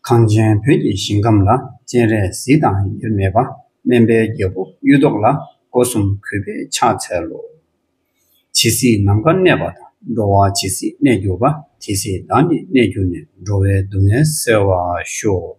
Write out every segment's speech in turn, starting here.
གངས་ཅན་བོད་ཀྱི་ཞིང་ཁམས་ལ་སྤྱན་རས་གཟིགས་དང་དབྱེར་མེད་པ་སྨན་པའི་རྒྱལ་པོ་གཡུ་ཐོག་ལ་སྒོ་གསུམ་གུས་པས་ཕྱག་འཚལ་ལོ། ཇི་སྲིད་ནམ་མཁའ་གནས་པ་དང་འགྲོ་བ་ཇི་སྲིད་གནས་གྱུར་པ་དེ་སྲིད་བདག་ནི་གནས་གྱུར་ནས་འགྲོ་བའི་སྡུག་བསྔལ་སེལ་བར་ཤོག།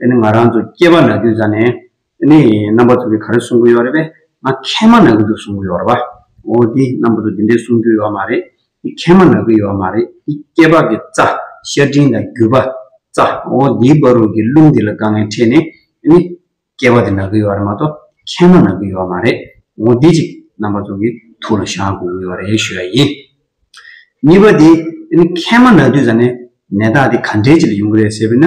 དེ་ནི་ང་རང་ཚོ་སྐྱེས་པ་ན་དུས་ཙམ་ནས་དེ་ནི་རྣམ་པ་ཚོ་གི་ག་རེ་གསུང་གི་ཡོད་རེད་པས་ང་མཁལ་མ་ན་གི་འདུག་གསུང་གི་ཡོད་རེད་པ། འོ་དེ་རྣམ་པ་ཚོ་དེ་འདྲས་གསུང་རྒྱུ་ཡོད་མ་རེད། དེ་མཁལ་མ་ན་གི་ཡོད་མ་རེད་དེ་སྐྱེས་པ་གི་རྩ། ཤ་སྤྲིན་དང་རྒྱུ་བ། རྩ། འོ་དེའི་བ་རུ་གི་རླུང་དེ་ལ་དཀའ་ངལ་འཕྲད་ནས་དེ་ནི། སྐྱེས་པ་དེ་ན་གི་ཡོད་རེད་མ་གཏོགས་མཁལ་མ་ན་གི་ཡོད་མ་རེད། འོ་དེ་ཅིག་རྣམ་པ་ཚོ་གི་ཐུགས་ལ་བཞག་དགོས་ཀྱི་ཡོད་རེད་ཞུས་པ་ཡིན། གཉིས་པ་དེ། དེ་ནི་མཁལ་མ་ན་དུས་ཙམ་ནས་ནད་རྟགས་དེ་ག་འདྲས་ཅིག་ལ་ཡོང་གི་རེད་ཟེར་བས་ན།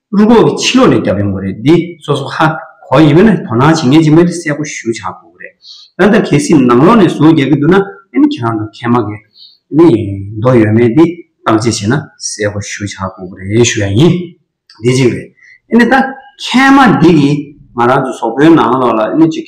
བླུན་གོག་གི་ཕྱི་ལོག་ལས་རྒྱབ་ཡོང་གི་རེད་འདི་སོ་སོ་ཧ་གོ་ཡིན་པས་ན་དོ་སྣང་བྱེད་མཁན་གྱི་མི་དེ་གསལ་པོ་ཞུ་བྱ་དགོས་ཀྱི་རེད་ད་ལྟ་གལ་སྲིད་ནང་ལོག་ནས་ཟུར་རྒྱག་གི་འདུག་ན་ཨེ་ནི་ཁྱེད་རང་དང་ཁྱེད་མ་གི་ནི་མདོ་ཡོད་མེད་འདི་བརྟག་དཔྱད་བྱས་ན་གསལ་པོ་ཞུ་བྱ་དགོས་ཀྱི་རེད་ཞུ་ཡ་ཡིན་འདི་གཅིག་རེད་ཨེ་ནི་ད་ཁྱེད་མ་འདི་གི་ང་རང་ཚོ་ཟོག་པོའི་ནང་ལོག་ལ་ཨེ་ནི་གཅིག་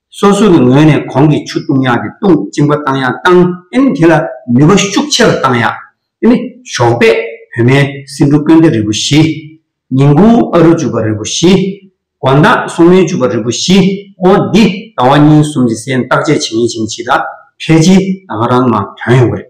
སོ་སོ་གི་ངོས་ནས་གོང་གི་ཆུ་བཏུང་ཡག་དེ་བཏུང་གཅིན་པ་བཏང་ཡག་བཏང་ཨིན་དེ་ལ་ནུས་པ་ཤུགས་ཆེ་རུ་བཏང་ཡག་ཨིན། ཞོགས་པས་བོད་མའི་སིན་འབྲུ་དཀོན་ཏེ་རིལ་བུ་བཞི། ཉིན་གུང་ཨ་རུ་བཅུ་པ་རིལ་བུ་བཞི། དགོང་དག་སོང་མོའི་བཅུ་པ་རིལ་བུ་བཞི་ཨོ་འདི་ཟླ་བ་གཉིས་གསུམ་གྱི་སའི་འདག་ཆས་བྱེད་ངེས་བྱེད་མི་བྱེད་ད་ཕལ་ཆེར་ད་ག་རང་མ་དོན་ཡོང་གི་རེད།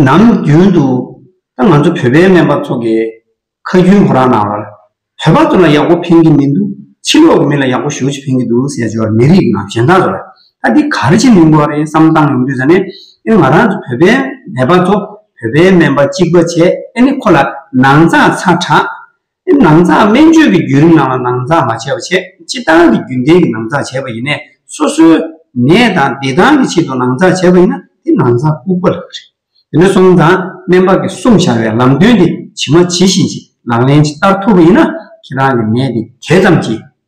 ནམ་རྒྱུན་དུ་ད་ང་ཚོ་བོད་པའི་སྨན་པ་ཚོ་གས་ཁ་རྒྱུན་ཁོ་རང་ནང་བར་བོད་པ་ཚོ་ལ་ཡག་པོ་ཕན་གྱི་མི་འདུག་ཕྱི་ལོག་གི་མི་ལ་ཡག་པོ་ཞུ་ཅི་ཕན་གྱི་འདུག་ཟེར་འགྱོར་མི་རིགས་ནང་གཞན་དག་ཚོ་ལ་ད་འདི་གར་ཅི་མིན་གོ་རེད་བསམ་བཏང་ཡོང་དུས་ད་ནས་ཨེ་ང་རང་ཚོ་བོད་པའི་ནད་པ་ཚོ་བོད་པའི་སྨན་པ་གཅིག་པ་བྱས་ཨེ་ནས་ཁོ་ལ་ནང་ཚགས་ཚགས་གྲགས། ནང་འཛགས་སྨན་བཅོས་ཀྱི་བརྒྱུད་རིམ་ནང་ལ་ནང་འཛགས་མ་བྱས་པ་ཆེས་སྤྱི་བཏང་གི་རྒྱུན་ལྡན་གྱི་ནང་འཛགས་བྱས་པ་ཡིན་ནས་སོ་སོའི་ནད་དང་བདེ་ཐང་གི་ཆེད་དུ་ནང་འཛགས་བྱས་པ་ཡིན་ན་དེ་ནང་འཛགས་ལྐུགས་པ་ལགས། དེ་ནས་བཟུང་དང་སྨན་པ་ཀྱི་གསུང་བཞག་པའི་ལམ་སྟོན་དེ་ཇི་མ་ཇི་བཞིན་གྱིས་ལག་ལེན་ཇི་ལྟར་ཐུབ་པ་ཡིན་ན་ཁྱེད་རང་གི་ནད་དེ་དེ་ཙམ་གྱིས་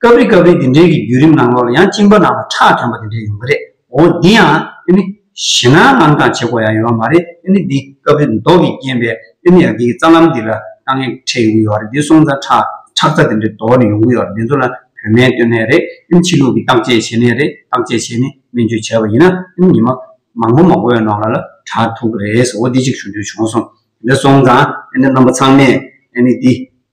སྐབས་རེ་སྐབས་རེ་དེ་འདྲའི་གི་བརྒྱུད་རིམ་ནང་ལོགས་ལ་ཡང་གཅིན་པ་ནང་ལ་ཁྲག་དྲོན་པ་དེ་འདྲ་ཡོང་གི་རེད་འོ་འདི་ཡང་ཨེ་ནི། ཞེ་ན་དངངས་སྐྲག་བྱེད་དགོས་ཡ་ཡོད་པ་མ་རེད་ཨེ་ནི་འདི་སྐབས་རེ་མདོག་གི་རྐྱེན་པས་ཨེ་ནི་ཡ་འདི་གི་རྩ་ལམ་འདི་ལ་དཀའ་ངལ་འཕྲད་ཡོང་གི་ཡོད་རེད་འདི་སོང་ཙང་ཁྲག་ཁྲག་རྩ་དེ་འདྲའི་དོག་ནི་ཡོང་གི་ཡོད་རེད་འདི་ཚོ་ལ་བོད་སྨན་སྟོན་ནས་རེད་ཨེ་ནི་ཕྱི་ལུགས་ཀྱི་བརྟག་དཔྱད་བྱེད་ནས་རེད་བརྟག་དཔྱད་བྱས་ནས་སྨན་བཅོས་བྱས་པ་ཡིན་ན་ཨེ་ནི་ཉི་མ་མང་པོ་མང་པོ་ཡོད་ནོག་ལ་ལ་དྲག་ཐུག་གི་རེད་ཟེར་འོ་འདི་གཅིག་ཞུ་འདོད་བྱུང་སོང་དེ་འདྲ་སོང་ཙང་ཨེ་ནི་རྣམ་པ་ཚང་མས་ཨེ་ནི་འདི།